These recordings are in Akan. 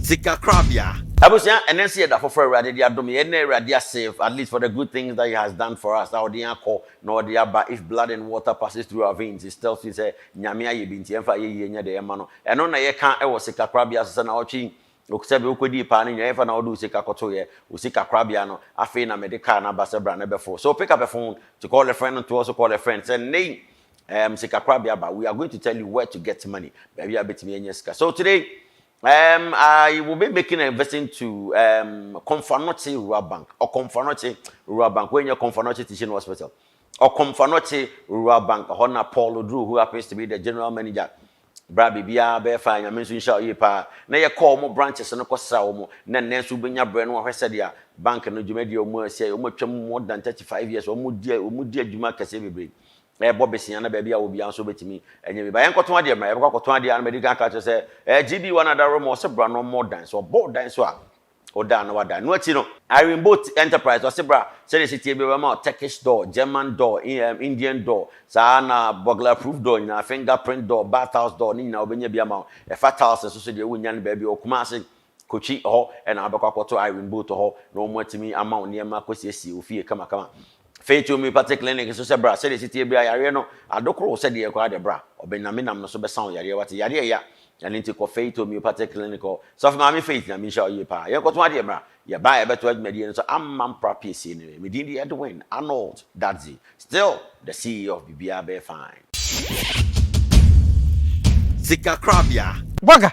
Sikakorabea. Abusua ɛnɛ nso yɛda foforɔ awurade de adom yɛn na awurade asave at least for the good things that he has done for us a ɔde yɛn akɔ na ɔde aba if blood and water passes through our veins it tells me sɛ nyame ayɛ bi nti ɛmfa ayɛyie nyɛ deɛ ɛma no ɛno na yɛka ɛwɔ sikakorabea so sɛ na ɔtwe sɛbe wokɔdii paa no nyina ɛmfa na wode wo sika kɔtoeɛ wo sikakorabea no afei na mede car no aba sɛ bra na bɛfo so pick up a phone to call a friend ntoɔ so call a friend sɛ nnɛyi Ɛɛm sikakorabea ba we are going to tell you where to get money baabi a wobɛtumi anya sika so today um, I will be making a visit to um, Komfanoche Rural Bank or Komfanoche Rural Bank where your Komfanoche Teaching Hospital or Komfanoche Rural Bank hɔ na Paul Oduru who happens to be the general manager bra biribiara bɛyɛ faa nyame nso nhyɛ ɔyie paa na yɛkɔ wɔn branches no kɔsra wɔn na nnɛ nso wobɛnya berɛ no wahwɛ sɛdeɛ bank no dwumadie a wɔn asi wɔn atwam more than 35 years wɔn di wɔn di adwuma kɛseɛ bebree ɛrebɔ besia na baabi a wɔ biara nso wobɛtumi anya bi ba yɛnkɔtɔn adeɛ mmra yɛbɛkɔ akɔtɔn adeɛ a na madi kan ka kyerɛ sɛ ɛɛ gb wa no adaro ma ɔse bra na ɔmmɔ dan so ɔbɔ dan so a ɔda na wada no akyi no Irene Boat Enterprise ɔse bra sɛdeɛ ɛhyɛ tie bi ɔbɛma wo Turkish door, German door, Indian door saa na burglar proof door nyinaa fingerprint door, bathhouse door ne nyinaa wobɛnya bi ama wo ɛfa tiles nso so deɛ wonnya no baabi wɔ Kumasi Kochi, ɛhɔ na wobɛkɔ akɔto Irene Booth hɔ na wɔatumi ama wo nneɛma akɔsiesie wo fie kamakama. Afei to Homeopathic Clinic nso sɛ bra, sɛdeɛ ɛsi teɛ biara yareɛ no adokoro wo sɛdeɛ koraa deɛ bra, ɔbɛnamenam no so bɛsa wo yareɛ wate, yareɛ ya, ɛno nti kɔ Faith Homeopathic Clinic hɔ. Sɔfo Maame Faith Nyame nhyira wo yie paa, yɛnkɔto adeɛ mmra, yɛba a yɛbɛtoa dwumadie no so ama mpra piesie no yɛ, me din de Edwin Arnold Dadzie, still the CEO of Biribiara Bɛyɛ Fine. Sika korabea. Wagga,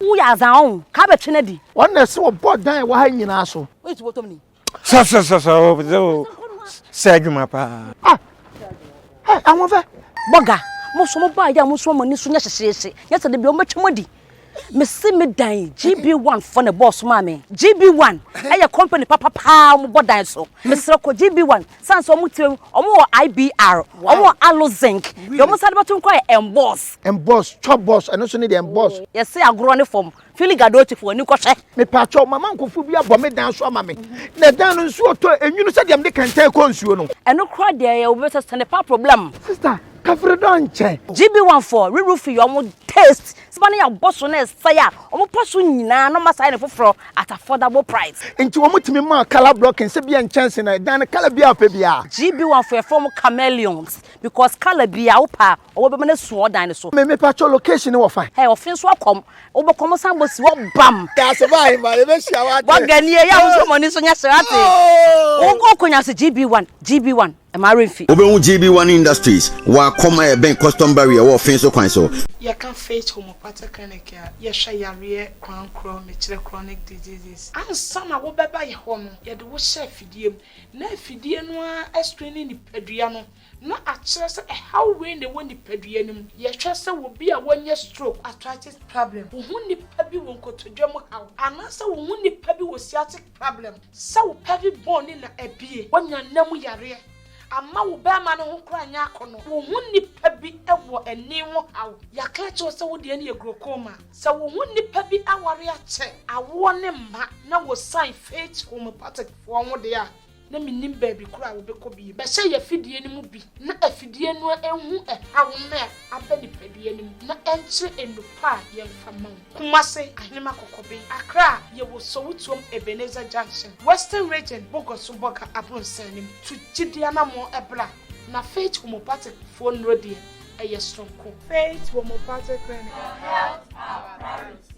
Woyɛ adza ɔn ka bɛtwe no adi. Ɔn na ɛse wɔbɔ dan a ɛwɔ ha nyinaa so. Woyɛ tubɔtɔm ni. Sɔsɔsɔsɔ wo pese wo sɛ adwuma paa. Ah hey Ahoɔfɛ. Bɔga, mo nso mo baa yɛ a mo nso mo ani so nyɛ hyehyeehye nyɛ sɛ dabi wɔbɛtwa mo adi. Me se me dan yi GB one foɔ na ɛbɔɔ so maa me. GB one yɛ company papa paa wɔbɔ dan so. Mesrɛ kɔ GB one. San sɛ ɔmo tirim, ɔmo wɔ IBR, ɔmo wɔ aloe zinc, deɛ ɔmo san de bɛto mu koraa yɛ emboss. Emboss, chop boss, ɛno nso ne deɛ emboss. Yɛse agorɔ ne fam, Philly Gadochi fo w'ani kɔhwɛ. Mepaakyɛw, mama nkorɔfoɔ bi abɔ me dan so ama me, na ɛdan no nsuo tɔ enwunu sɛdeɛ mede kɛntɛn kɔ nsuo no. Ɛno koraa deɛ ɛyɛ obi sɛ sɛnde paa problem. Sister, kafre dɔ nkyɛ. GB1 foɔ, re-roofing yɛ ɔmo taste Seba ne yɛn bɔ so na ɛsɛe a wɔn pɔ so nyinaa na wɔasan no foforɔ at affordable price. Enti wɔtumi maa colour block nsa biara nkyɛnse na ɛdan no colour biara a ɔpɛ biara. GBON foɔ yɛfrɛ wɔn chameleons because colour biara wo pɛ a ɔwɔ bɛma no asu wɔ dan no so. Me mepa kyɛw location no wɔ fan. Hey ɔfe nso akɔm wobɔ kɔm san bɔ si hɔ bam. Dase ba ahemmaa yɛbɛ hyia wate. Bɔ ganie yɛ a wo nso mɔ ani so nyɛ hye wate. Wo kɔ nkonyaso GBON GBON. Ɛma werɛ fi. Wobɛhu GB One Industries wɔ Akɔm a ɛbɛn Custom Barrier ɛwɔ Ɔfin so kwan so. Yɛka Faith Homeopathic Clinic a, yɛhwɛ yareɛ kwan korɔ, mekyerɛ chronic diseases. Ansa na wobɛba yɛ hɔ no, yɛde wo hyɛ afidie mu, na afidie no ara ascreene nipadua no na akyerɛ sɛ ɛhaw wei na ɛwɔ nipadua no mu. Yɛhwɛ sɛ obi a wanya stroke, arthritis problem, wo ho nipa bi wɔ nkotodwe mu haw, anaasɛ wo ho nipa bi wɔ sciatic. problem. Sɛ wo pelvic bone no na abue. Wanya nna mu yareɛ. Amma wo barima no ho koraa nyɛ akɔnɔ. Wo ho nnipa bi wɔ ani ho haw. Yɛaka akyerɛ wo sɛ wodeɛ no yɛ glaucoma. Sɛ wo ho nnipa bi aware akyɛ, awoɔ ne mma, na wɔsan faith homeopathic foɔ ho deɛ a, na mennim baabi koro a wobɛkɔ bio. Bɛhyɛ yɛn afidie no mu bi na afidie no nhu ɛhaw no a aba nipadua no mu na ɛnkyerɛ nnupɔ a yɛmfa mma wo. Kumase, Ahenema Kɔkɔbe, Accra, Yɛwɔ Sowutuom Ebenezer Junction, Western Region, Bogoso Bɔga Abronsan no mu. Tu gyidie anammɔn bra na Faith Homeopathic foɔ nnuro deɛ ɛyɛ soronko. Faith Homeopathic Clinic, Health Our Priority.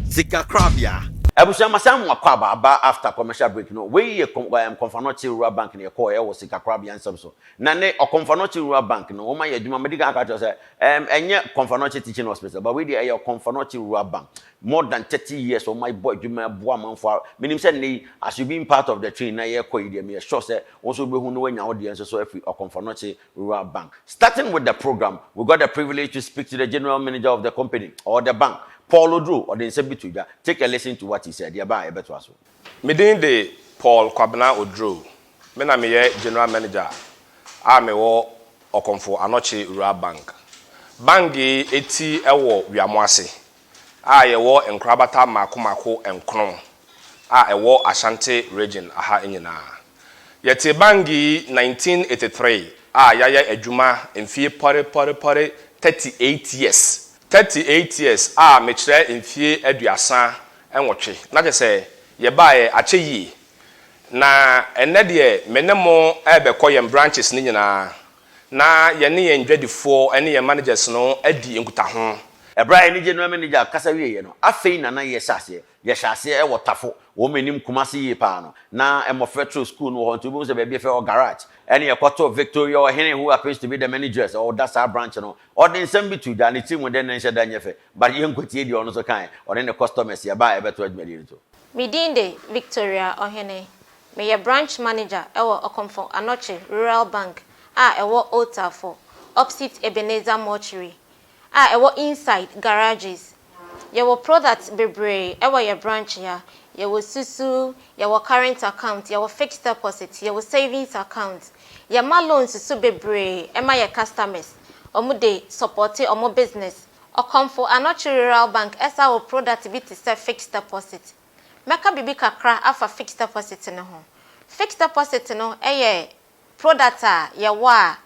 Sikakorabea. Abusua masan mo akwaaba aba after commercial break no wei yɛ Komfanɔkye Rural Bank na yɛkɔɔ ɛwɔ sikakorabea nsɛm so na ne Komfanɔkye Rural Bank no wɔma yɛ adwuma madi kan aka kyerɛ sɛ ɛm ɛnyɛ Komfanɔkye Teaching Hospital but wei deɛ ɛyɛ Komfanɔkye Rural Bank More than thirty years wɔn ayi bɔ adwuma ɛboa amanfoɔ a menim sɛ nnɛ yi as you being part of the train na yɛrekɔ yi deɛ meyɛ sure sɛ wo nso wobɛhu na woanya wo deɛ nso so afiri Ɔkomfɔnokye Rural Bank. Starting with the program we got the privilege to speak to the General Manager of the company or the bank Paul Oduro ɔde nsɛm bi to dwa take a listen to what he said yɛba a yɛbɛtoa so. Me din de Paul Kwabena Oduro me na meyɛ General Manager a mewɔ Ɔkomfo Anokye Rural Bank. Bank yi ti wɔ Wiamoase a yɛwɔ nkorabata mmaako mmaako nkron a ɛwɔ Ashanti Region ha nyinaa. Yɛtee Bangui 1983 a yɛayɛ adwuma mfeɛ pɔre pɔre pɔre 38 years, 38 years a mekyerɛ mfeɛ aduasa nwɔtwe na kyerɛ sɛ yɛbaeɛ akyɛ yie. Na ɛnnɛ deɛ me ne mo rebɛkɔ yɛn branches no nyinaa Na yɛne yɛn dwadifoɔ ne yɛn managers no adi nkutaho. Ɛberɛ a anigye no manager kasa wieeɛ no, afei na na yɛhyɛ aseɛ. Yɛhyɛ aseɛ wɔ Tafo, wɔn menim Kumasi yie paa no, na mmɔfra turo sukuu no wɔ hɔ nti wobɛhu sɛ baabi yɛ fɛ wɔ Garage. Ɛne yɛkɔtoo Victoria Ɔhene who happens to be the manageress ɔda saa branch no. Ɔde nsɛm bi to dwa, ne tiri mu dɛ nnɛ nhyɛ da nyɛ fɛ, but yɛnkwatiee deɛ ɔno nso kaeɛ, ɔne ne customers yɛbaa ɛbɛto adwumadie no to. Me din de Victoria Ɔhene. Meyɛ Branch Manager wɔ Okomfo Anokye Rural Bank a ɛwɔ Old Tafo, opposite Ebenezer Mortuary, a ɛwɔ Inside Garages. Yɛwɔ products bebree wɔ yɛn branch ha. Yɛwɔ susu, yɛwɔ current account, yɛwɔ fixed deposit, yɛwɔ savings account. Yɛma loans nso bebree ma yɛn customers. Wɔde supporte wɔn business, Ɔkɔmfo Anokye Rural Bank ɛsa wo product bi te sɛ fixed deposit. Mɛka biribi kakra afa fixed deposit no ho. Fixed deposit no yɛ product a yɛwɔ a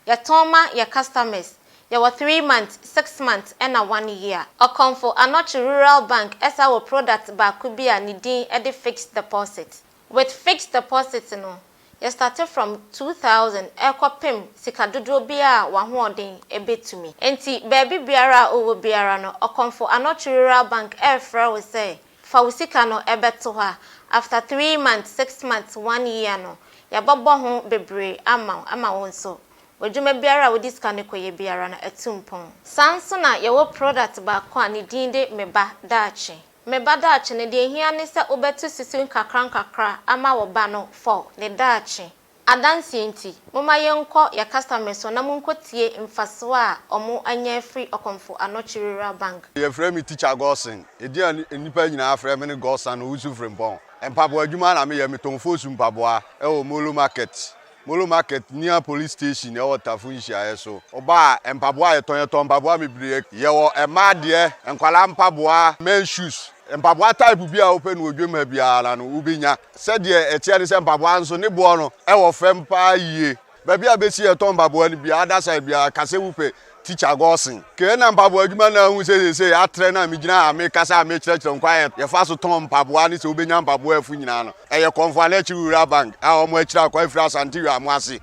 yɛtɔn ma yɛ customers. Yɛwɔ three months, six months ɛna one year. Ɔkɔmfo Anokye Rural Bank ɛsa wo product baako bi a ne din de fixed deposit. With fixed deposit no, yɛ starte from two thousand ɛrekɔpem sika dodoɔ biara a w'ahoɔden bɛtumi. Enti baabi biara a wowɔ biara no, Okomfo Anokye Rural Bank refrɛ wo sɛ fa wo sika no bɛto hɔ a, after three months, six months, one year no, yɛbɛbɔ ho bebree ama wo ama wo nso w'adwuma biara a wode sika no kɔyɛ biara no atu mpɔn. Saa nso na yɛwɔ product baako a ne din de Me Ba Daakye. Me ba daakye no, deɛ ɛhia ne sɛ wobɛto susu nkakrankakra ama wo ba no for ne daakye adanseɛ nti. Momma yɛnkɔ yɛn customers hɔ na monkɔtie mfasoɔ a wɔanya afiri Okomfo Anokye Rural Bank. Wɔfrɛ me Teacher Godson. Edin a nnipa nyinaa frɛ me ne Godson Owusu-Frimpong. Mpaboa adwuma na meyɛ. Metɔn foosu mpaboa wɔ Molo Market Molo Market near police station ɛwɔ Tafo nhyiaeɛ so. Ɔbaa a, mpaboa a yɛtɔn, yɛtɔn mpaboa bebree. Yɛwɔ mmaa deɛ, nkwadaa mpaboa, men's shoes. Mpaboa type biara a wopɛ no wɔ dwam ha biara no wobɛnya. Sɛdeɛ ɛteɛ ne sɛ mpaboa nso ne boɔ no ɛwɔ fam paa yie. Baabi a bɛsi yɛtɔn mpaboa no biara, other side biara, ka sɛ wopɛ Tikya Gɔɔsen, Kɛ na mpaboa adwuma no ahu sɛ seesei atrɛ no a megyina ha mekasa a mekyerɛkyerɛ nkwa a yɛfa so tɔn mpaboa ne sɛ wobɛnya mpaboa afu nyinaa no, ɛyɛ Kɔmfoa ne Akyiri Rural Bank a wɔn akyiri akwan afiri Asante Wiaamo ase.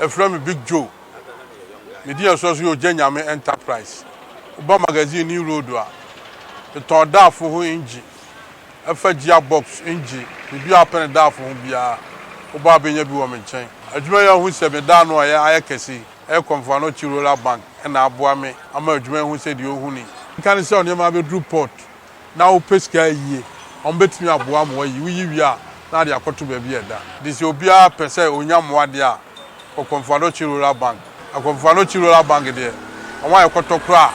Ɛfrɛ me Big Joe. Me din ɛsoa so yɛ Ogya Nyame Enterprise. Woba magazine New Road a, metɔn daafo ho engyi, ɛfa gyiya box, engyi, biribiara wopɛ no daafo ho biara, woba a wobɛnya bi wɔ me nkyɛn. Adwuma yi ahu sɛ me da ano a ɛyɛ ayɛ kɛse yi, Ɛrekɔ mfoano akyi Roller Bank na aboa me ama adwuma ahu sɛ deɛ ɔhu ni. Nka no sɛ wo nneɛma abɛduru port na wopɛ sika a ayie, wɔbɛtumi aboa ama woayi. Woyi wie a, na ade akɔto baabi a ɛda. Enti sɛ obiara pɛ sɛ ɔnya mmoa deɛ a, ɔkɔ mfoano akyi Roller Bank. Ɛkɔ mfoano akyi Roller Bank deɛ, wɔn a ɛkɔtɔ koraa a,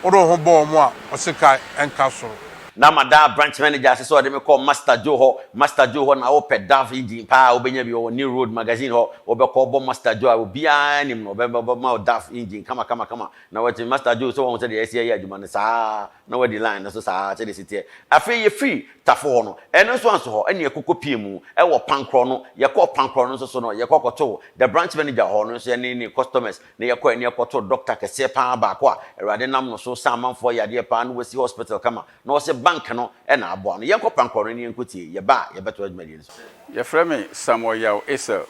wode wo ho bɔ wɔn a, ɔsekan nka soro. Na madaa branch manager ase sɛ ɔde me kɔɔ Master Joe hɔ. Master Joe hɔ na wopɛ Dove yi din paa a wobɛnya bi wɔ New Road Magazine hɔ. Wobɛkɔ wobɔ Master Joe a obiara nim no, ɔbɛ ɔbɛma wo Dove engine kamakamakama. Na wate Master Joe sɛ wahu sɛdeɛ yɛasi ayɛ adwuma no saa ara na wadi line no so saa ara sɛdeɛ ɛsi teɛ. Afei yɛfirii Tafo hɔ no, ɛno nso anso hɔ ɛnna yɛkɔkɔ piee mu wɔ Pankorɔ no. Yɛkɔɔ Pankorɔ no nso so no, yɛkɔ kɔtoo the branch manager hɔ no nso yɛne ne customers. Ne yɛ kɔɛ ne yɛ kɔtoo doctor kɛseɛ paa baako a awurade nam no so sa amanfoɔ yadeɛ paa ne wasi hospital kama na ɔse bank no na aboa no yɛnkɔ prank call no ne yɛnkɔ tie yɛ ba a yɛ bɛtoa dwumadie no so. Yɛfrɛ me Samuel Yaw Esel.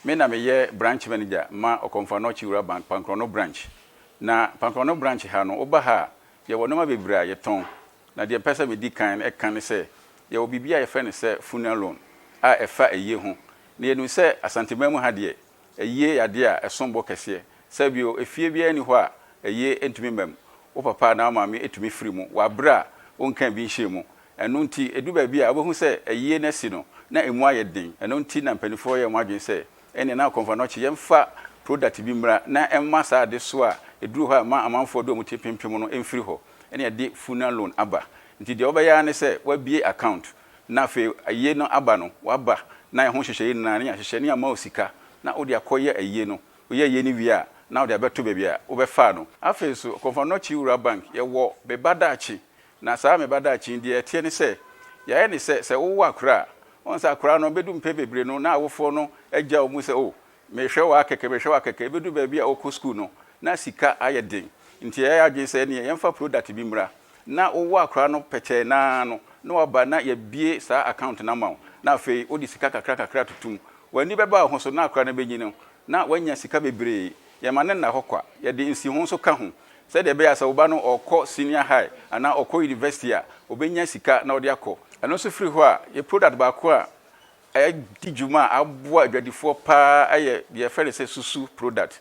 Me na meyɛ branch manager ma Okomfo-Anor Kyiwura Bank Pankronno branch. Na Pankronno branch ha no, woba ha a, yɛwɔ nneɛma bebree a yɛtɔn. Na deɛ mpɛ sɛ medi kan ka ne sɛ, yɛwɔ biribi a yɛfrɛ no sɛ funeral loan a ɛfa ayie ho. Na yɛnim sɛ Asanteman mu ha deɛ, Ayie yɛ adeɛ a ɛsom bo kɛseɛ. Saa bio, efie biara nni hɔ a ayie ntumi mma mu. Wo papa anaa wo maame tumi firi mu wɔ abere a wonkaa bi nhyɛɛ mu. Ɛno nti, ɛdu baabi a wobɛhu sɛ ayie no asi no na emu ayɛ den. Ɛno nti na mpaninfoɔ yɛɛ wɔn adwene sɛ, ɛnneɛ na Kɔmfanɔkye yɛmfa product bi mmra na ɛmma saa adesoa a ɛduru hɔ a ɛma amanfoɔ de wɔn ti pempem no mfiri hɔ na yɛde Funalone aba. Nti deɛ wobɛyɛ ara ne sɛ woabie account na afei ayie no aba no waba na ɛho nhyehyɛeɛ nyinaa ne yɛahyehyɛ ne yɛama wo sika na wode akɔyɛ ayie no, woyɛ ayie no wie a na wode abɛto baabi a wobɛfaa no. Afei nso Kɔmfɔnnɔkye Wura Bank yɛwɔ Me Ba Daakye na saa Me Ba Daakye yi deɛ ɛteɛ ne sɛ yɛayɛ ne sɛ sɛ wowo akora a, woahu sɛ akora no bɛdu mpɛn bebree no na awofoɔ no agya wo mu sɛ oh Mehwɛ wo ara kɛkɛ, mehwɛ wo ara kɛkɛ, ɛbɛduru baabi a wokɔ sukuu no, na sika ayɛ den. Nti yɛayɛ adwene sɛ ɛnneɛ yɛmfa product bi mmra, na wowɔ akora no pɛkyɛɛ no ara no, na waba na yɛabue saa account no ama wo, na afei wode sika kakra kakra atoto mu. W'ani bɛba wo ho so na akora no bɛnyin no, na woanya sika bebree. Yɛmma no nna hɔ kwa, yɛde nsiho nso ka ho, sɛdeɛ ɛbɛyɛ a sɛ wo ba no ɔrekɔ senior high anaa ɔrekɔ university a, ɔbɛnya sika na ɔde akɔ. Ɛno nso firi hɔ a, yɛ product baako a Adi dwuma a aboa adwadifoɔ paa yɛ deɛ yɛfrɛ no sɛ susu product.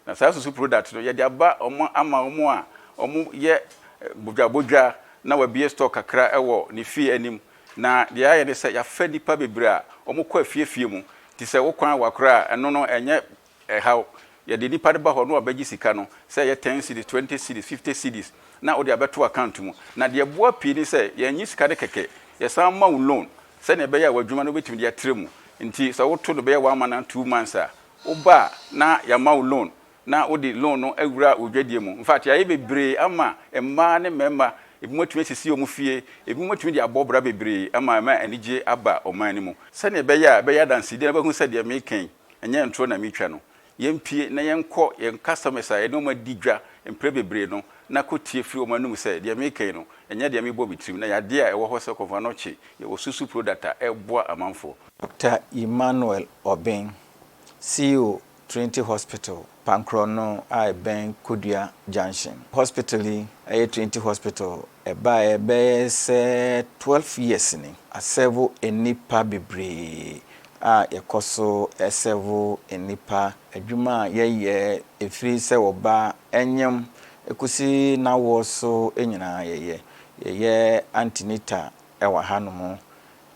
Na saa susu product no yɛde aba wɔn ama wɔn a wɔyɛ bodwabodwa na wabue store kakra wɔ ne fie anim. Na deɛ yɛayɛ ne sɛ yɛafrɛ nnipa bebree a wɔkɔ afiefie mu. Te sɛ wo kwan wa koraa a, ɛno no ɛnyɛ Ɛhaw. Yɛde nipa no ba hɔ na wabɛgye sika no, sɛ ɛyɛ ten cedis, twenty cedis, fifty cedis, na wode abɛto account mu. Na deɛ ɛboa pii ne sɛ, yɛnnye sika no kɛkɛ, yɛsan ma wo loan sɛdeɛ ɛbɛyɛ a w'adwuma no wobɛtumi de atra mu. Nti sɛ woto no bɛyɛ one month anaa two months a, woba a na yɛama wo loan na wode loan no awura wo dwadie mu. Infact, yɛayɛ bebree ama mmaa ne mmarima, ebinom atumi asisi wɔn fie, ebinom atumi de abɔ bra bebree ama ɛma anigyeɛ aba ɔman no mu. Sɛdeɛ ɛbɛyɛ a ɛbɛyɛ adansedie na wobɛhu sɛ deɛ mereka yi, Ɛnyɛ ntorɔ na meretwa no. Yɛmpue na yɛnkɔ yɛn customers a yɛne wɔn adi dwa mprɛ bebree no na kɔtie firi wɔn anom sɛ deɛ mereka yi no, ɛnyɛ deɛ mebɔ me tirim na yadeɛ a ɛwɔ hɔ sɛ kɔmfoɔ ano kye yɛ wɔ Susu product a ɛboa amanfoɔ. Doctor Emmanuel Obeng, CEO, Trinity Hospital. Pankrɔ no a ɛbɛn Kodua Junction. Hospital yi yɛ Trinity Hospital ɛbaeɛ bɛyɛ sɛ twelve years ni. Asɛvo nnipa bebree a yɛkɔ so sɛvo nnipa. Adwuma a yɛyɛ ɛfiri sɛ wɔba nyem kɔsi n'awoɔ so nyinaa yɛyɛ. Yɛyɛ antenatal wɔ ha nom.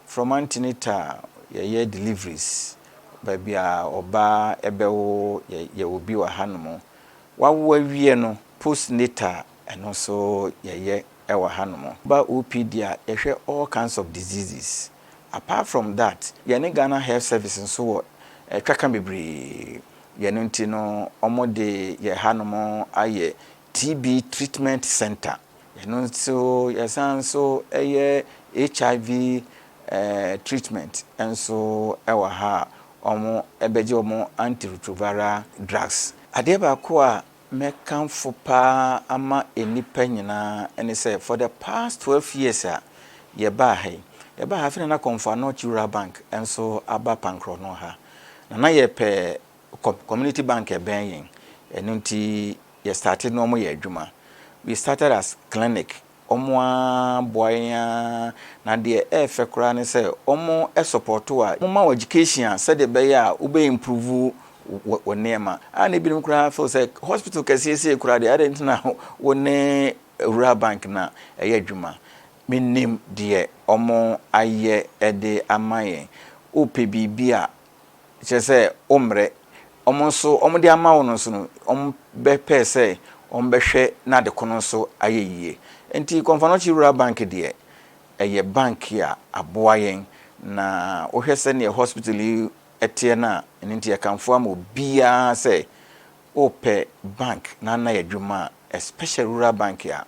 From antenatal yɛyɛ deliveries baabi a ɔbaa bɛwo yɛ yɛwɔ bi wɔ hanom wawo awie no post natal ɛno nso yɛyɛ wɔ hanom woba OPD a yɛhwɛ all kinds of diseases apart from that yɛne Ghana health service nso wɔ twaka bebree yɛno nti no wɔde yɛ hanom ayɛ TB Treatment Centre, ɛno nso yɛsan nso yɛ HIV treatment nso wɔ ha a wɔbɛgye wɔn antiretroviral drugs. Adeɛ baako a mɛkamfo pa ara ama nnipa nyinaa ne sɛ for the past twelve years a yɛbaa ha yi, yɛbaa ha afei na na Kɔmfo Anɔkye Rural Bank nso aba Pankrɔno ha, na na yɛpɛ community bank a ɛbɛn yɛn, ɛno nti Yɛ starte na ɔmo yɛ adwuma. We started as clinic ɔmo aa boa yɛn aa na deɛ ɛɛfɛ koraa ne sɛ ɔmo sɔpɔto wa mo ma wo education a sɛdeɛ ɛbɛyɛ a wobɛ improve wo wo nneɛma a na ebinom koraa feel sɛ hospital kɛseɛ sei koraa deɛ adɛn nti na wo ne rural bank na ɛyɛ adwuma me nim deɛ ɔmo ayɛ de ama yɛn wo pɛ biribi a Kyerɛ sɛ, wommrɛ. Wɔn nso, wɔde ama wo no nso no, wɔbɛpɛ sɛ wɔbɛhwɛ na ade ko no nso ayɛ yie. Enti Kɔmfanochi Rural Bank deɛ, ɛyɛ bank a aboa yɛn. Na wohwɛ sɛdeɛ hospital yi teɛ no a, ɛno nti yɛkamfo ama obiara sɛ, wopɛ bank na na yɛ adwuma a, especially rural bank a,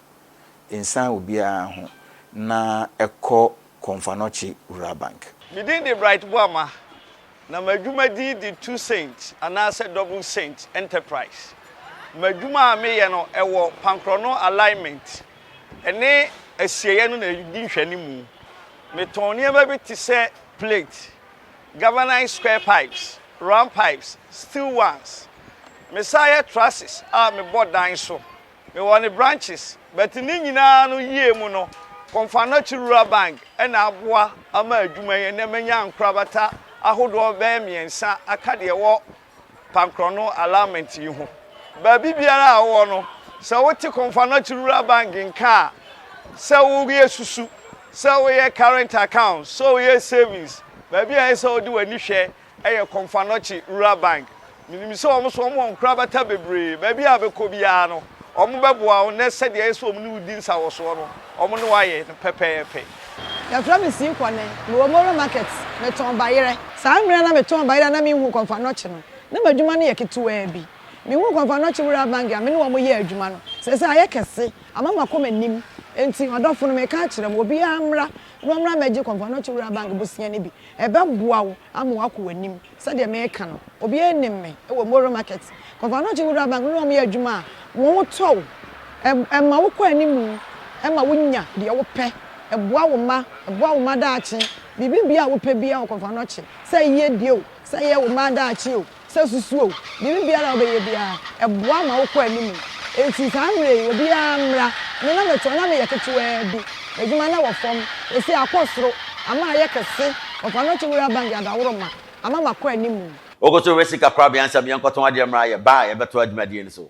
nsiane obiara ho na kɔ Komfanochi Rural Bank. Me din de Bright Boamah, na m'adwuma din de Two Saint anaasɛ Double Saint Enterprise. M'adwuma a meyɛ no wɔ pankorɔno alignment ne asieɛ no na ɛdi nhwɛanimu. Metɔn nneɛma bi te sɛ plate, galvanized square pipes, round pipes, steel ones. Mesan yɛ trusses a mebɔ dan so Mewɔ ne branches but ne nyinaa no yie mu no Komfanochi Rural Bank na aboa ama adwuma yi ɛnɛ manya nkorabata ahodoɔ bɛyɛ mmiɛnsa aka deɛ ɛwɔ Pankrɔno allowment yi ho. Baabi biara a wowɔ no sɛ wote Komfanochi Rural Bank nka a sɛ woyɛ susu, sɛ woyɛ current account, sɛ woyɛ savings, baabi a ɛsɛ sɛ wode w'ani hwɛ Ɛyɛ Komfanochi Rural Bank. Menim sɛ wɔn nso wɔn wɔ nkorabata bebree. Baabi a bɛkɔ biara no, wɔn bɛboa wo na sɛdeɛ ɛyɛ sɛ wɔn ne wo di nsawɔsoɔ no, wɔn ne wo ayɛ no pɛpɛɛpɛ. Yɛfrɛ me Sii Kwane. Mewɔ Moro Market. Metɔn bayerɛ. Saa mmerɛ a na metɔn bayerɛ a na menhuu Komfanochi no, na m'adwuma no yɛ ketewaa bi. Mehuu Komfanochi Rural Bank a me ne wɔn yɛɛ adwuma no, seesei ayɛ kɛse, ama makɔ m'anim. Enti, ɔdɔfo no, meka akyerɛ mo, obiara mmra na ɔmmra mmɛgye Komfanochi Rural Bank bosea no bi. Ɛbɛboa wo ama woakɔ w'anim. Sɛdeɛ mereka no, obiara nnim me wɔ Moro Market. Kɔvanokye Wura Bank ne wɔn yɛ adwuma a, wɔtɔ wo. Ɛma wokɔ anim, ɛma wonya deɛ wopɛ, ɛboa wo mma, ɛboa wo mma daakye. Biribibiara a wopɛ biara wɔ Kɔvanokye, sɛ yiedie o, sɛ ɛyɛ wo mma daakye o, Sɛ susuw biribi biara a wobɛyɛ biara, ɛboa ma wokɔ anim. Enti saa mmere yi, obiara mmra. Me na mete hɔ, na meyɛ ketewaa bi. M'adwuma na wɔ fam. Seesei akɔ soro. Ama ayɛ kɛse. Wɔfa no akyi wura bank yɛ adaworoma. Ama makɔ anim. Wokɔ so wura sika korabea ansa biara nkɔtɔn adeɛ mmra. Yɛbaa a, yɛbɛtoa dwumadie no so.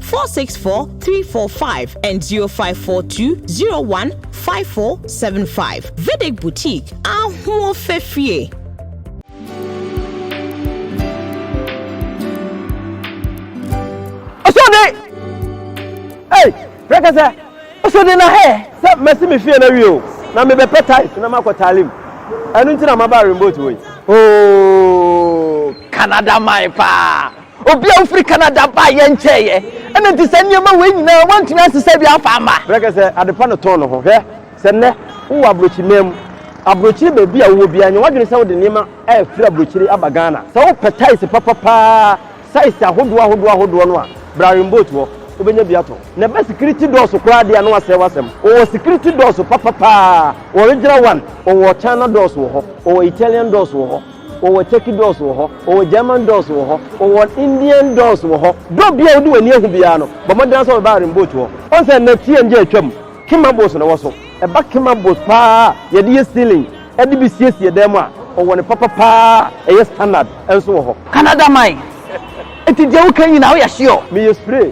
464345 and 0542015475. Vedic Boutique, Ahuo Fefie. Osode! Hey, rekasa. Osode na he. Sɛ mɛsi me fie na wie o na mebɛpɛ tight na makɔ talim ɛno nti na maba remboat wei. Oh, Canada man paa. Obi a ofiri Canada baa yɛn nkyɛn ɛ, ɛna nti saa nneɛma wei nyinaa wɔntumi ansesa bi amfa amma. Berɛ kɛ sɛ adepa no tɔn no ho. Hwɛ, sɛ nnɛ wowɔ aborɔkyi man mu, aborɔkyire baabi a wowɔ biara, nyɛ w'adwene sɛ wode nneɛma afiri aborɔkyire aba Ghana. Sɛ wopɛ taese papa paa, saese ahodoɔ ahodoɔ ahodoɔ no a, bra Rimboat hɔ, wobɛnya bi atɔ. Na ɛba sikiriti dɔɔso koraa deɛ a, na wɔasɛe w'asɛm. Wɔwɔ sikiriti dɔɔso papa paa, original one, wɔwɔ China dɔɔso wɔ hɔ, wɔwɔ Italian dɔɔso wɔ hɔ. Wɔwɔ Turkey dolls wɔ hɔ, wɔwɔ German dolls wɔ hɔ, wɔwɔ Indian dolls wɔ hɔ. Berɛ obiara a wode w'ani ahu biara no, bɔ mmɔden ara sɛ wobɛba Iron Boat hɔ. Woahu sɛ nnɛ TNJ atwam, Kema Bows na ɛwɔ so. Ɛba Kema Bows pa ara a yɛde yɛ ceiling de bi siesie dan mu a, wɔwɔ ne papa pa ara a ɛyɛ standard nso wɔ hɔ. Canada man, enti deɛ woka yi nyinaa woyɛ sure? Meyɛ sure.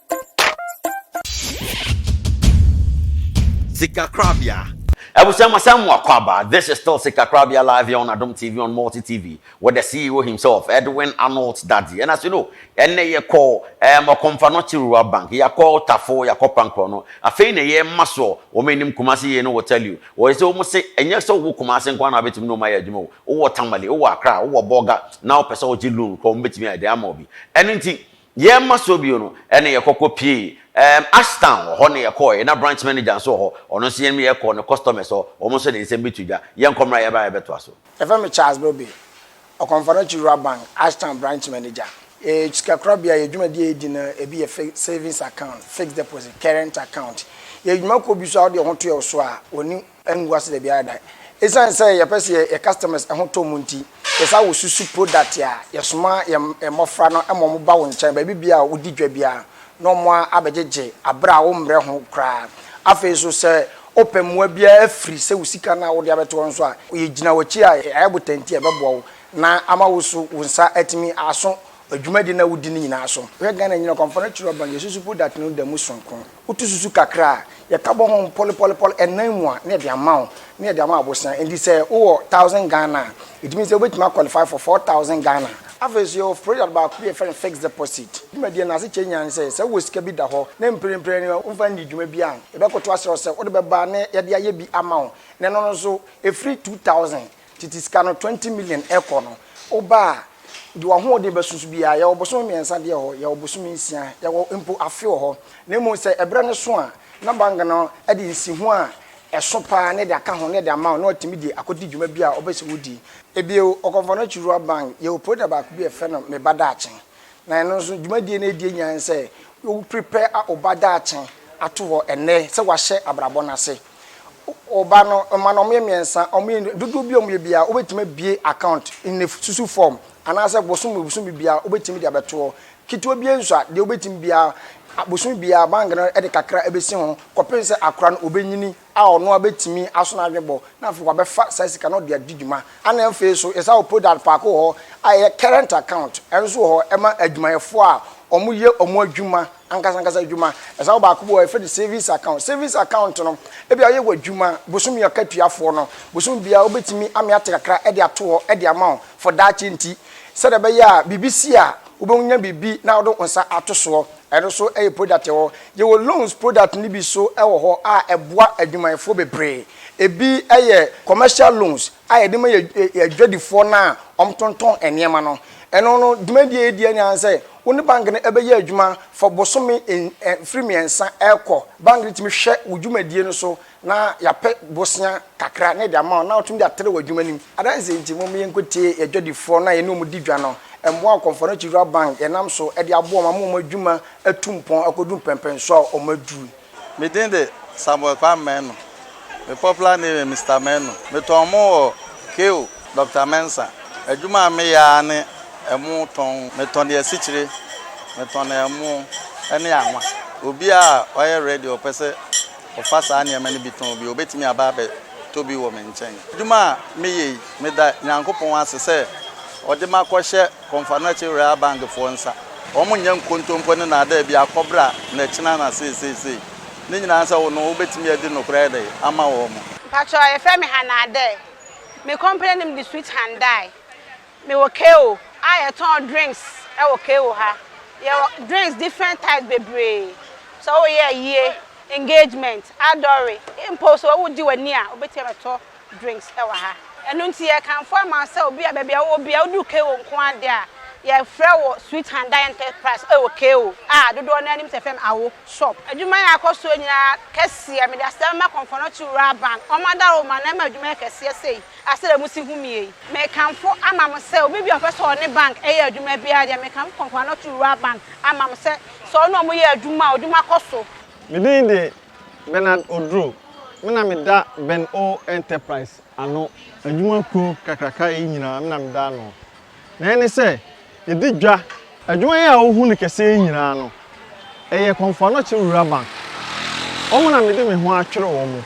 Sikakorabea. Abusua ma sɛ mo akwaaba, this is still Sikakorabea live here on Adom TV on Multi TV with the CEO himself, Edwin Arnold Dadzie. And as you know, ɛnɛ yɛkɔ um, Ɔkɔmfa no Kyerewura Bank, yɛakɔ Tafo, yɛakɔ Pankorɔ no, afei na yɛma soɔ, wɔn anim Kumasi yei no will tell you, wɔyɛ sɛ wɔn se, ɛnyɛ sɛ wowɔ Kumasi nko ara na wabɛtumi ne wɔn ayɛ adwuma o, wowɔ Tamale, wowɔ Accra, wowɔ Bolga, na wopɛ sɛ wogye loan kɔ, wɔn bɛtumi ayɛ dɛn ama wo bi. Ɛno nti, Yɛn mma so bio no, ɛna yɛkɔkɔ pie. Ɛɛm, Ashtown, ɔhɔ na yɛkɔɔɛ. Na branch manager nso wɔ hɔ. Ɔno nso yɛne no yɛkɔɔ ne customers hɔ. Wɔn nso de nsɛm bi to dwa. Yɛnkɔ mmra yɛba na yɛbɛtoa so. Yɛfrɛ me Charles Bobe, Ɔkɔmfɔnɔkye Rural Bank, Ashtown branch manager. Yɛyɛ sikakorabea. Yɛn dwumadie a yɛdi no, ebi yɛ fix, savings account, fixed deposit, current account. Yɛyɛ dwumakuo bi nso a wode wo ho to yɛn so a, wɔne ngu ase da biara da. Esiane sɛ yɛpɛ sɛ yɛyɛ yɛn customers ho tɔ mu nti, yɛsɛ sɛ wosusu product a yɛsoma yɛn mmofra no ma wɔba wo nkyɛn baabi biara a wudi dwa biara na wɔn abɛgyegye bere a wommrɛ ho koraa. Afei nso, sɛ wopɛ mmoa biara firi sɛ wo sika no a wode abɛto hɔ nso a, yegyina w'akyi a yɛayɛ botan ti a ɛbɛboa wo na ama wo nso wo nsa atumi aso dwumadi no a wudi no nyinaa so. Wohwɛ Ghana Nnyina Ɔkamfo no Kyerɛwbɛn, Yɛasusu Product no da mu soronko. Wotu susu kakra a, yɛka bɔ ho mpɔlepɔlepɔle nnan mu a, na yɛde ama wo, na yɛde ama abosea. Enti sɛ wowɔ thousand Ghana a, ɛtumi sɛ wobɛtumi a qualify for four thousand Ghana. Afei nso yɛwɔ product baako bi a yɛfrɛ no fixed deposit. Dwumadie no asekyerɛ nyinaa ne sɛ, sɛ wowɔ sika bi da hɔ na mprempren no womfa nnii dwuma bi a, yɛbɛkoto asrɛ wo sɛ wode bɛba na yɛde ayɛ bi ama wo. Na ɛno no nso, ɛfiri two thousand Tete sika no twenty million ɛkɔ no woba a deɛ wahoɔden bɛso so biara yɛwɔ bosome mmiɛnsa deɛ hɔ yɛwɔ bosome nsia yɛwɔ mpo afe wɔ hɔ na mmom sɛ ɛberɛ no so a na bank no de nsiho a ɛso paa na ɛde aka ho na ɛde ama wo na watumi de akɔdi dwuma bi a ɔbɛ sɛ wodi. Ebio Ɔkɔmfɔnɔkyi Rural Bank yɛwɔ product baako bi a yɛfrɛ no Me Ba Daakye na ɛno nso dwumadie no a ɛdie nyinaa ne sɛ wo prepare a wo ba daakye ato hɔ ɛnnɛ sɛ wahyɛ abrabɔ no ase. wo ba no ma no wɔyɛ mmiɛnsa wɔyɛ ndu dodoɔ bi a wɔyɛ biara wobɛtumi abie account in a susu form anaasɛ bosom bosomi biara wobɛtumi de abɛtoɔ ketewa biara nsua deɛ wobɛtumi biara a- bosomi biara bank no de kakra ɛbɛsi ho kɔpem sɛ akora no ɔbɛnyini a ɔno ara bɛtumi aso n'adwebɔ na afei wabɛfa saa sika no ɔde adi dwuma ɛna afei so yɛsa wɔ product paako wɔ hɔ a ɛyɛ current account ɛno nso wɔ hɔ ɛma adwumayɛfoɔ a wɔyɛ wɔn adwuma ankasa ankasa adwuma. Ɛsa wo baako bi wɔ hɔ a yɛfrɛ no savings account. Savings account no, ebi a woyɛ w'adwuma bosome akatuafoɔ no, bosome biara wobɛtumi ame ate kakra de ato hɔ de ama wo for daakye nti. Sɛdeɛ ɛbɛyɛ a biribi si a wobɛnya biribi na wode wo nsa ato soɔ. Ɛno nso yɛ product wɔ hɔ. Yɛwɔ loans product no bi nso wɔ hɔ a ɛboa adwumayɛfoɔ bebree. Ebi yɛ commercial loans a yɛde ma yɛn adwadifoɔ no a wɔtontɔn nneɛma no. Ɛno no dwumadie a yɛdi ara ne ara ne sɛ Wo ne bank no bɛyɛ adwuma for bosome mfiri mmiɛnsa rekɔ. Bank no tumi hwɛ wo dwumadie no so na yɛapɛ bosea kakra na yɛde ama wo na wotumi de atrɛ w'adwuma no mu. Adanseɛ nti, momma yɛnkɔtie yɛn dwadifoɔ no a yɛne wɔn di dwa no. Mmoa a Ɔkɔmfoɔnakyi Rural Bank yɛnam so de aboa wɔn ama wɔn adwuma atu mpɔn akɔduru mpɛnpɛnsoɔ a wɔaduru no. Me din de Samuel Kwame Menu. Me popular name yɛ Mister Menu. Me tɔn ɛmo wɔ KO. Doctor Mensah. Adwuma a me yɛ ara ne ɛmo tɔn. Me tɔn asikyire, me tɔn ɛmo ɛne anwa. Obia a ɔyɛ ready ɔpɛ sɛ ɔfa saa nneɛma no bi tɔn bi ɔbɛtumi aba abɛ tɔ bi wɔ me nkyɛn. Adwuma a me yɛ yi me da Nyankopɔn ase sɛ ɔde makɔ hyɛ. Kɔ nfa no akyi were abang foɔ nsa. Wɔn nyɛ nkontompo ne naadaa bi akɔ bere a na kyena na seeseisei. Ne nyinaa sɛ wo no wo bɛtumi adi nokorɛ ɛde ama wɔn. Mpakyɛw yɛfrɛ me Hannah Adair. Me company nom de Sweet Handai. Me wɔ KO a yɛtɔn drinks wɔ KO ha. Yɛwɔ drinks different types bebree. Sɛ wo yɛ ayie, engagement, adɔre, mpo sɛ wo di w'ani a wobɛtumi abɛtɔ drinks wɔ ha. Ɛno nti yɛkamfo ama wo sɛ obi a baabi a wowɔ biara wodu KO nko ara deɛ a, yɛfrɛ wo Sweet Handai Enterprise wɔ KO a dodoɔ no ara nim sɛ yɛfrɛ no Awo Shop. Adwuma yɛ akɔ soɔ nyinaa kɛseɛ. Mede aseda ma Kɔmfɔnɔkye Rural Bank, wɔn adaworoma na ɛma adwuma yɛ kɛseɛ sei a sɛdeɛ mosi hu me yei. Mekamfo ama mo sɛ obi biara a ɔpɛ sɛ ɔne bank yɛ adwuma biara deɛ, mekamfo Kɔmfɔnɔkye Rural Bank ama mo sɛ sɛ ɔne wɔn yɛ adwuma a, adwuma kɔ so. Me din de Bernard Oduro, Me na meda Ben O Enterprise ano. Adwuma kuo kakraka yi nyinaa me na meda ano. Nea ɛne sɛ, yɛdi dwa. Adwuma yi a wohu no kɛseɛ yi nyinaa no, ɛyɛ Kɔmfoanɔkye Rural Bank. Wɔn na mede me ho atwere wɔn.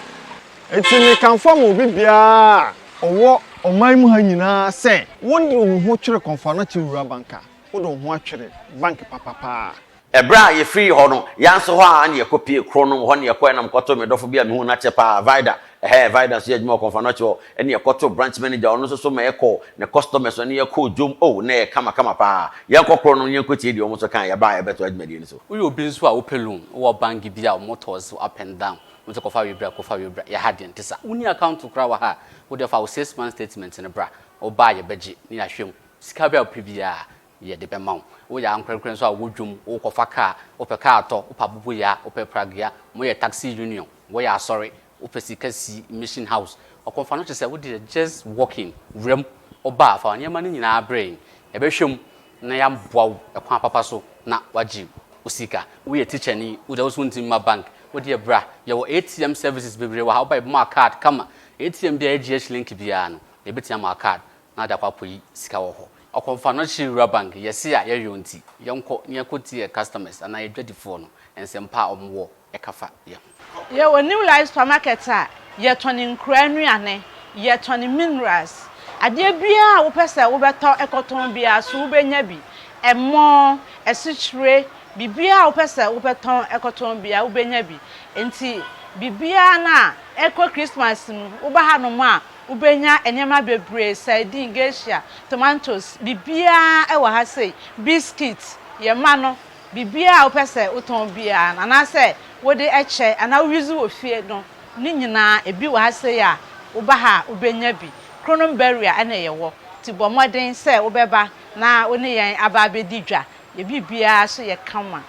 Enti mekamfo ama obi biara a ɔwɔ ɔman yi mu ha nyinaa sɛ, wode wo ho twere Kɔmfoanɔkye Rural Bank a, wode wo ho atwere bank papa paa. Ɛberɛ a yɛfirii hɔ no, yɛn nso hɔ ara na yɛkɔpue koro no, hɔ na yɛkɔeɛ na mekɔtoo me dɔfo bi a mehuu no akyɛ pa ara, Vida, ɛhɛɛ, Vida nso yɛ adwuma wɔ Kɔmfanoche hɔ, ɛna yɛkɔtoo branch manager a ɔno nso so ma yɛkɔɔ, ne customers no, ɛne yɛn kɔɔ dwom, oh, na ɛyɛ kama kama pa ara. Yɛnkɔ koro no na yɛnkɔtie deɛ wɔn nso kaeɛ, yɛba a yɛbɛtoa dwumadie no so. Woyɛ obi nso a wopɛ loan, wowɔ bank bi a wɔtɔɔ so up and down, wɔse kɔfa wei bra, kɔfa wei bra, yɛ ha deɛ ɛnte saa, wonni account koraa wɔ ha a, wodeɛ fa wo six months statement no bra, woba a yɛbɛgye na yɛahwɛ mu, sika bi a wopɛ biara, Yɛde bɛma wo. Woyɛ ankorɛkorɛ nso a, wɔ dwom, wokɔfa kaa, wopɛ kaa tɔ, wopɛ aboboyaa, wopɛ pragea, moyɛ taxi union, woyɛ asɔre, wopɛ sika si, mission house, ɔkɔmfa no te sɛ wo deɛ just walk in, wura mu, woba a, fa wo nneɛma no nyinaa brɛ yɛn, yɛbɛhwɛ mu na yɛaboa wo kwan papa so na woagye wo sika. Woyɛ tikyani, wo deɛ wo so wontumi mma bank, wo deɛ bra, yɛwɔ ATM services bebree wɔ ha, woba a yɛbɛma wo card kama, ATM biara a ɛgye HLink biara no, yɛbɛtumi ama wo card, na ade akɔ apoyi sika wɔ hɔ ɔkɔ nfa no kyere wura bank yɛse a yɛ yɔn nti yɛnkɔ na yɛkɔ tie yɛ customers anaa yɛ dwadi foɔ no nsɛm pa a ɔmo wɔ ɛka fa yɛ ho. Yɛ wɔ new life supermarket a yɛ tɔn nkuraa nnuane yɛ tɔn minerals adeɛ biaa a wopɛ sɛ wo bɛ tɔ ɛkɔ tɔn biaa so wo bɛ nya bi ɛmɔ asikyire biribiaa a wopɛ sɛ wo bɛ tɔn ɛkɔ tɔn biaa wo bɛ nya bi nti biribiaa no a ɛkɔ Christmas mu wo ba ha nom a Wobɛnya nneɛma bebree, sardine, geisha, tomatoes, biribiara wɔ ha sei, biscuit, yɛn mma no, biribiara a wopɛ sɛ wotɔn biara no, anaasɛ wode kyɛ anaa wo use wɔ fie no, ne nyinaa ebi wɔ ha sei a woba ha a wobɛnya bi. Kronom Berea na yɛwɔ, nti bɔ mmɔden sɛ wobɛba na wo ne yɛn aba abɛdi dwa, yɛn biribiara nso yɛ kama.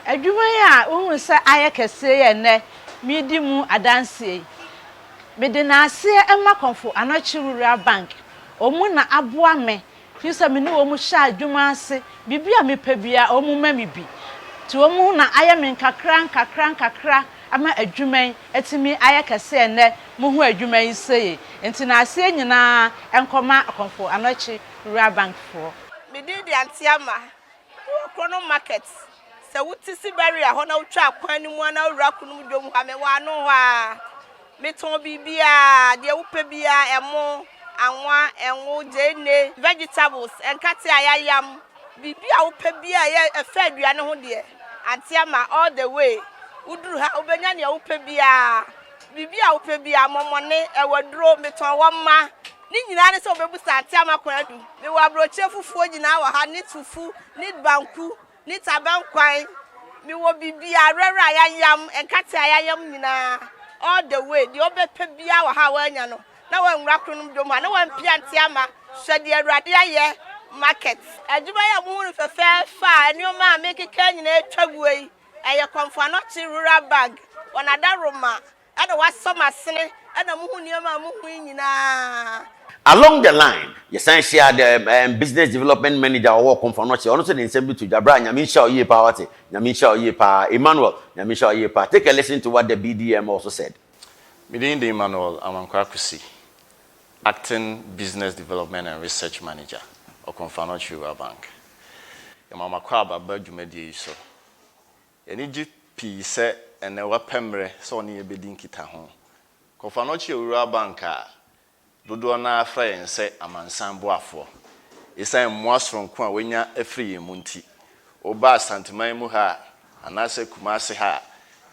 Adwuma yi a wohunu sɛ ayɛ kɛseɛ yi a ɛnnɛ meredi mu adanseɛ yi, Mede naaseɛ ma Kɔmfo Anɔkye Rural Bank, wɔn na aboa me firi sɛ me ne wɔn hyɛ adwuma ase, biribi a mepɛ biara wɔn ma me bi. Nti wɔn na ayɛ me nkakra nkakra nkakra ama adwuma yi atumi ayɛ kɛse ɛnnɛ mohu adwuma yi sei. Nti naaseɛ nyinaa nkɔma Kɔmfo Anɔkye Rural Bank foɔ. Me din de Antiama Kuro koro no market sɛ wo te siberia hɔ na wo twa kwan no mu a na wo wura kunu mu dwom ha me wɔ ano hɔ a me tɔn biribiaa deɛ wo pɛ biaa ɛmo anwa ɛngo gyeene vegetables nkate a ya yam biribi a wo pɛ biaa ɛyɛ ɛfɛ aduane ho deɛ ante ama all the way wo duru ha wo bɛnya deɛ wo pɛ biaa biribi a wo pɛ biaa mɔmɔne ɛwɔ duro me tɔn wɔ mma Ne nyinaa ne sɛ wɔbɛbu saa nte ama kwan du. Mewɔ aburokyire fufuo nyinaa wɔ ha, ne tufu, ne banku, ne tabankwan. Mewɔ biribiarara a yɛayam, nkate a yɛayam nyinaa, all the way. Deɛ wobɛpɛ biara wɔ ha a woannya no, na woanwura Kronom Dwom ha, na woampia nte ama Hwɛ Deɛ Awurade Ayɛ market. Adwuma yi a mohu no fɛfɛɛfɛ a nneɛma a merekeka nyinaa atwa guo yi, ɛyɛ Kɔmfoano Akyiri Rural Bank, wɔn adaworoma Ɛna wasɔ m'asene ɛna muhu nneɛma a muhu yi nyinaa. Along the line, yɛsan hyiaa the um, business development manager a ɔwɔ Ɔkomfo no, ɔkyerɛ, ɔno nso de nsɛm bi to dwa, Bra, Nyame nhyira wo yie paa, woate? Nyame nhyira wo yie paa, Emmanuel, Nyame nhyira wo yie paa, take a listen to what the BDM also said. Me din de Emmanuel Amankwah Kwesi, Acting Business Development and Research Manager, Okomfo Anokye Rural Bank. Yɛma mo akwaaba ba dwumadie yi so. Yɛani gye pii sɛ ɛnnɛ wapɛ mmerɛ sɛ ɔne yɛn bɛdi nkitaho. Kɔfanochi Owura Bank a dodoɔ no ara frɛ yɛn sɛ amansan boafoɔ ɛsiane mmoa soronko a wanya afiri yɛn mu nti. Woba Asanteman mu ha a anaasɛ Kumasi ha a,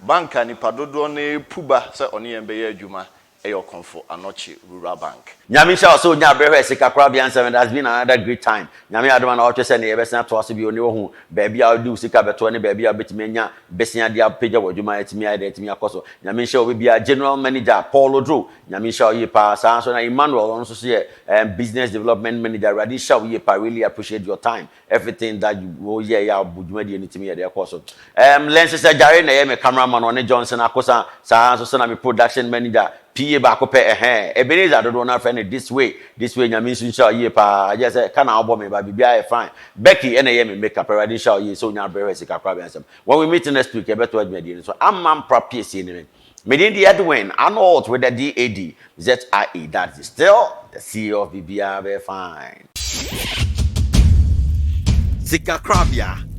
Bank a nnipa dodoɔ no ara repu ba sɛ ɔne yɛn bɛyɛ adwuma Ɛyɛ ɔkɔmfo anɔkye rura bank. Nyame nhyira wo sɛ onyaa berɛ hwɛɛ sika korabea nsɛm it has been another great time Nyame adom a na woatwɛ sɛ nneyɛɛ bɛsen atoa so bio ne woahu baabi a wode wo sika bɛtoɔ ne baabi a wobɛtumi anya besea de apagya w'adwuma atumi ayɛ dɛn atumi akɔso Nyame nhyira obibiaa General Manager Paul Oduro Nyame nhyira wo yie paa saa ara nso na Emmanuel ɔno nso so yɛ ɛɛ business development manager Awurade nhyira wo yie paa really appreciate your time Everything that you wo yɛ yɛ a ɔbu dwumadie no tumi yɛ deɛ ɛkɔɔ so. Ɛɛm Lenses Agyare na ɛyɛ me camera man ɔne Johnson Akosa saa ara nso sɛ na me production manager, PA baako pɛ ɛhɛɛ. Ebenezer dodoɔ no ara frɛ no this way, this way Nyame nso nhyira wo yie pa ara gyɛɛ sɛ ka na wobɔ me but biribiara yɛ fine. Becky ɛna ɛyɛ me make up Awurade nhyira wo yie sɛ onya abrɛ hɔ a sika koraa bɛn asɛm. When we meet next week yɛbɛtoa dwumadie no so ama mpra piesie ne me. Me din de Edwin Arnold with the DAD, ZIE, that is still the CEO of Biribiara Bɛyɛ Fine. Sikakorabea.